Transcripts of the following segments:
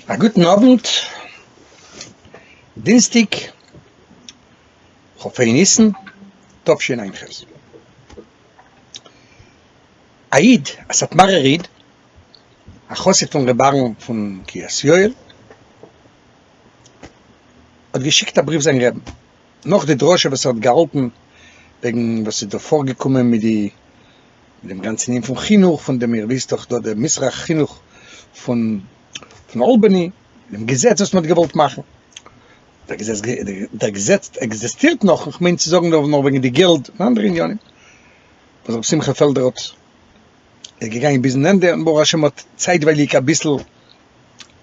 א גוטן אוונט, דינסטיג כ ה ניסן תשענ ח, א איד, א סאטמארער איד, א חסיד פון ר' אהרן פון קרית יואל, האט געשיקט א בריוו זיין רעבן, נאך די דרשה וואס ער האט געהאלטן וועגן וואס איז דא פארגעקומען מיט די. אין דעם גאנצן ענין פון חינוך, פון דעם איר וויסט דאך דא דער מזרח חינוך פון פון אלבאני, דעם געזעץ וואס מען האט געוואלט מאכן, דער געזעץ דער געזעץ עקזעסטירט נאך, איך מיין צו זאגן דא נאר וועגן די געלד און אנדערע עניינים, וואס רבי שמחה פעלדער האט, איז געגאנגען ביזן ענדע, און ברוך השם האט צייטווייליג אביסל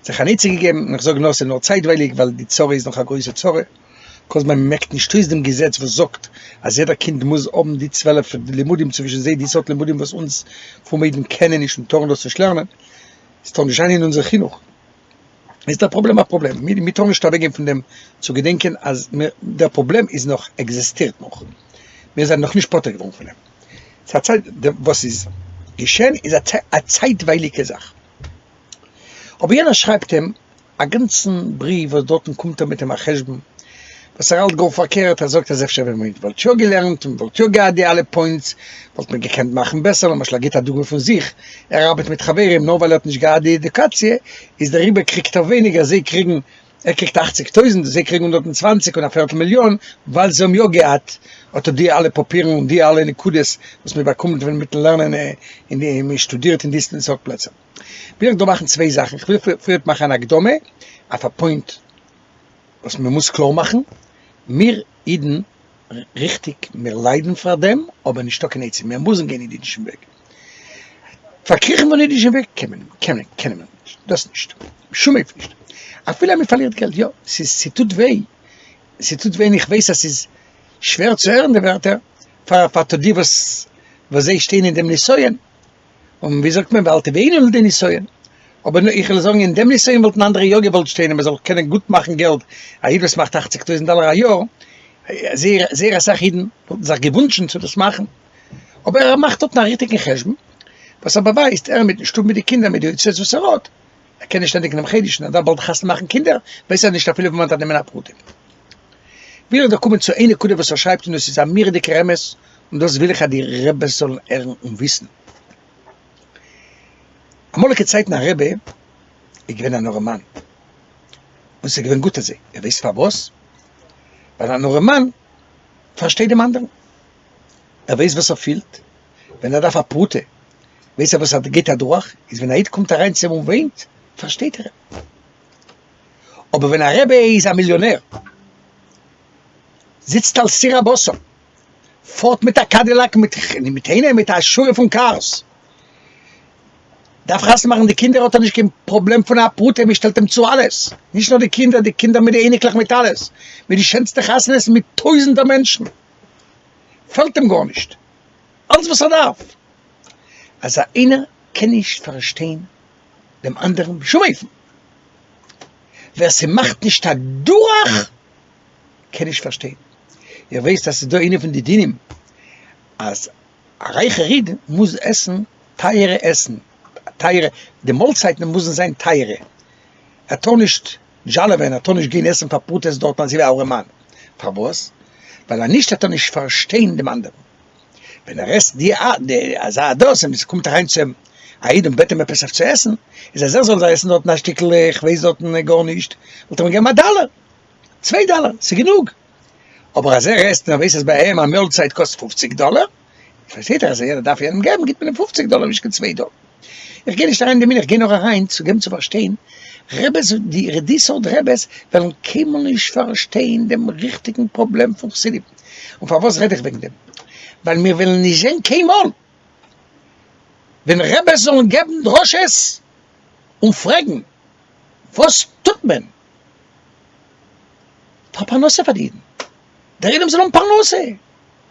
זיך אן עצה געגעבן, און איך זאג נאר ס'איז נאר צייטווייליג ווייל די צרה איז נאך א גרויסע צרה, כל זמן מ'מעקט נישט אויס דעם געזעץ וואס זאגט אז יעדער קינד מוז האבן די צוועלף לימודים צווישן זיי די סארט לימודים וואס אונז פרומע אידן קענען נישט און טארן דאס נישט לערנען, עס טאר נישט זיין אין אונזער חינוך, איז דער פראבלעם א פראבלעם, מיר טארן נישט אוועקגיין פון דעם צו געדענקען אז דער פראבלעם איז נאך, עקזעסטירט נאך, מיר זענען נאכנישט פטור געווארן פון אים, ס'איז א צייט, וואס איז געשען איז א צייטווייליגע זאך. אבער יענער שרייבט אים א גאנצן בריוו וואס דארטן קומט ער מיט אים א חשבון וואס ער האלט גאר פארקערט, ער זאגט אז אפשר ווען מען וואלט יא געלערנט און מען וואלט יא געהאט די אלע פוינטס וואלט מען געקענט מאכן בעסער, למשל ער גיבט א דוגמא פון זיך, ער ארבעט מיט חברים נאר ווייל ער האט נישט געהאט די עדיוקאציע איז דעריבער קריגט ער ווייניגער זיי קריגן. ער קריגט אַכציק טויזענט, זיי קריגן הונדערט און צוואַנציק און א פערטל מיליאן, ווייל זיי האבן יא געהאט אט די אלע פאפירן און די אלע נקודות וואס מען באקומט ווען מיטן לערנען אין די מען שטודירט אין די סארט פלעצער. וויל איך דא מאכן צוויי זאכן, איך וויל פריערט מאכן אן הקדמה אויף א פוינט וואס מען מוז קלאר מאכן, מיר אידן, ריכטיג מיר ליידן פאר דעם, אבער נישטא קיין עצה, מיר מוזן גיין אין אידישן וועג, פארקריכן פון אידישן וועג קען מען קען מען קען מען נישט, דאס נישט, בשום אופן נישט, אפילו אז מען פארלירט געלט יא, ס'איז ס'טוט וויי, ס'טוט וויי און איך ווייס אז ס'איז שווער צו הערן די ווערטער פאר פאר די וואס וואס זיי שטייען אין דעם נסיון, און ווי זאגט מען ואל תביאנו לידי נסיון, אבער איך וויל זאגן אין דעם נסיון וואלטן אנדערע יא געוואלט שטיין אז מען זאל קענען גוט מאכן געלט, א איד וואס מאכט אַכציק טויזנט דאלער א יאר, זייער זייער אסאך אידן וואלטן זיך געוואונטשן צו דאס מאכן. אבער ער מאכט דארטן א ריכטיגן חשבון וואס ער באווייזט, ער מיטן שטוב מיט די קינדער מיט די הוצאות וואס ער האט, ער קען נישט ענדיגן דעם חודש און ער דארף באלד חתונה מאכן קינדער, ווייסט ער נישט אפילו וואו מען דארף נעמען א פרטים. וויל איך דא קומען צו איין נקודה וואס ער שרייבט און דאס איז א מורא'דיגער אמת און דאס וויל איך אז די רעבעס זאלן הערן און וויסן. אמאליגע צייטן א רעבע איז געווען אן ארעמאן און ס'איז געווען גוט אזוי, איר ווייסט פארוואס? ווייל אן ארעמאן פארשטייט דעם אנדערן. ער ווייסט וואס ער פילט ווען ער דארף א פרוטה, ווייסט ער וואס ער גייט אדורך, איז ווען א איד קומט אריין צו אים און וויינט, פארשטייט ער אים. אבער ווען א רבי איז א מיליאנער, זיצט על סיר הבשר, פארט מיט א קאדילאק מיט אינעם מיט א שורה פון קארס, דארף חתונה מאכן די קינדער, האט ער נישט קיין פראבלעם פון א פרוטה, מען שטעלט אים צו אלעס, נישט נאר די קינדער, די קינדער מיט די אייניקלעך מיט אלעס, מיט די שענסטע חתונות מיט טויזנטער מענטשן. פעלט אים גארנישט, אלעס וואס ער דארף אז איינער קען נישט פארשטיין דעם אנדערן בשום אופן, ווער ס'מאכט נישט א דורך קען נישט פארשטיין, איר ווייסט אז ס'איז דא איינע פון די דינים אז א רייכער איד מוז עסן טייערע עסן, טייערע, די מאלצייטן מוזן זיין טייערע, ער טאר נישט דזשאלעווען האט טאר נישט גיין עסן פאר פראטעסט דארטן אזוי ווי אהרעמאן, פארוואס? ווייל א נישט טאטע נישט פארשטיין דעם אנדערן, ווען ער עסט די אזא אדאס און עס קומט אריין צו אים א איד און בעט אים עפעס אויף צו עסן, איז אז ער זאל זיי עסן דארטן א שטיקל איך ווייס דארטן גארנישט, וואלט ער אים געגעבן א דאלער, צוויי דאלער, ס'איז גענוג, אבער אז ער עסט און ער ווייס אז ביי אים א מאלצייט קאסט פופציג דאלער, פארשטייט זיך אז איידער דארף איינעם געבן גיבט מען אים פופציג דאלער נישט קיין צוויי דאלער, איך גיי נישט אריין אין די מנין איך גיי נאר אריין צו געבן צו פארשטיין רעבעס די די סארט רעבעס וועלן קיינמאל נישט פארשטיין דעם ריכטיגן פראבלעם פון חסידים, און פארוואס רעד איך וועגן דעם ווייל מיר וועלן נישט זען קיינמאל ווען רעבעס זאלן געבן דרשות און פרעגן וואס טוט מען פאר פרנסה פאר די אידן די רעבען זאל האבן פרנסה.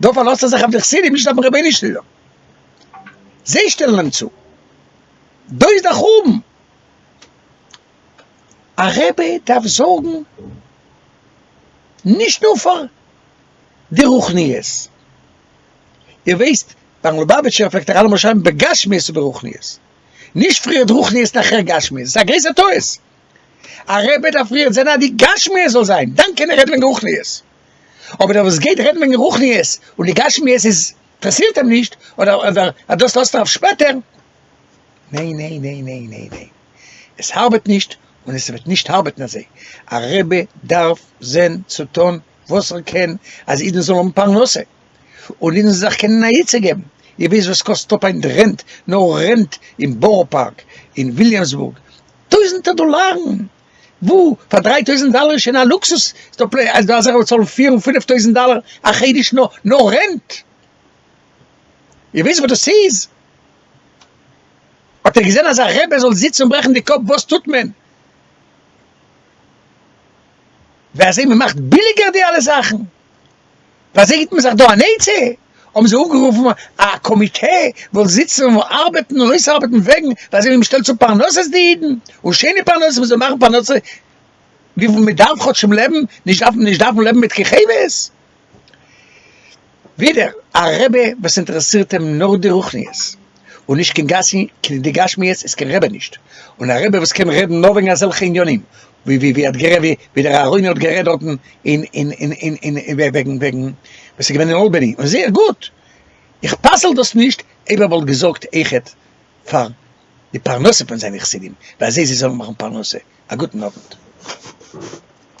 דא פארלאזט ער זיך אויף די חסידים נישט אויפן רבי'ן שליטא, זיי שטעלן אים צו, דא איז דער חורבן, א רבי דארף זארגן נישט נאר פאר די רוחניות, איר ווייסט ביים לובאוויטשער פלעגט ער אלעמאל שרייבן בגשמיות וברוחניות, נישט פריערט רוחניות נאכער גשמיות, ס'איז א גרויסער טעות, א רבי דארף פריערט זען אז די גשמיות זאל זיין, דאן קען ער רעדן וועגן רוחניות. אבער דער וואס גייט רעדן וועגן רוחניות און די גשמיות איז אינטערעסירט אים נישט אדער אדער אז דאס לאזט ער אויף שפעטער, ניין ניין ניין ניין ניין ניין, עס ארבעט נישט און עס וועט נישט ארבעטן אזוי, א רבי דארף זען צו טון וואס ער קען אז אידן זאלן האבן פרנסה און אידן זאלן זיך קענען א עצה געבן, איר וויסט וואס קאסט אפ היינט רענט, נאר רענט אין בארא פארק, אין וויליאמסבורג, טויזענטער דאלארן! וואו פאר דריי טויזענט דאלער איז שוין א לוקסוס, איז דא פלענער אז דא אזעלכע וואס צאלן פיר און פינעף טויזענט דאלער א חודש נאר נאר רענט? איר וויסט וואס דאס איז? האט איר געזען אז א רבי זאל זיצן און ברעכן די קאפ וואס טוט מען? ווי אזוי מען מאכט ביליגער די אלע זאכן? באזעגט מען זיך דא אן עצה, האבן זיי אפגערופן א קאמיטע וואס זאל זיצן און ארבעטן און אויסארבעטן וועגן ווייזען ווי מ'שטעלט צו פרנסות די אידן, און שיינע פרנסות מ'זאל מאכן פרנסה וויפיל מ'דארף כאטשמ לעבן, נישט דארפן נישט דארפן לעבן מיט כיכבות. ווידער א רעבע וואס אינטערעסירט אים נאר די רוחניות, און נישט קיין גשמיות איז קיין רעבע נישט, און א רעבע וואס קען רעדן נאר וועגן אזעלכע עניינים, ווי ווי ווי ער האט גערעדט ווי ווי דער אהרוני האט גערעדט דארטן אין אין אין אין אין וועגן וועגן ווען ס'איז געווען אין אלבעני און זייער גוט, איך פסל דאס נישט אויב ער וואלט געזארגט אויכעט פאר די פרנסה פון זיינע חסידים, ועל זה זיי זאלן מאכן פרנסה, א גוטן אוונט.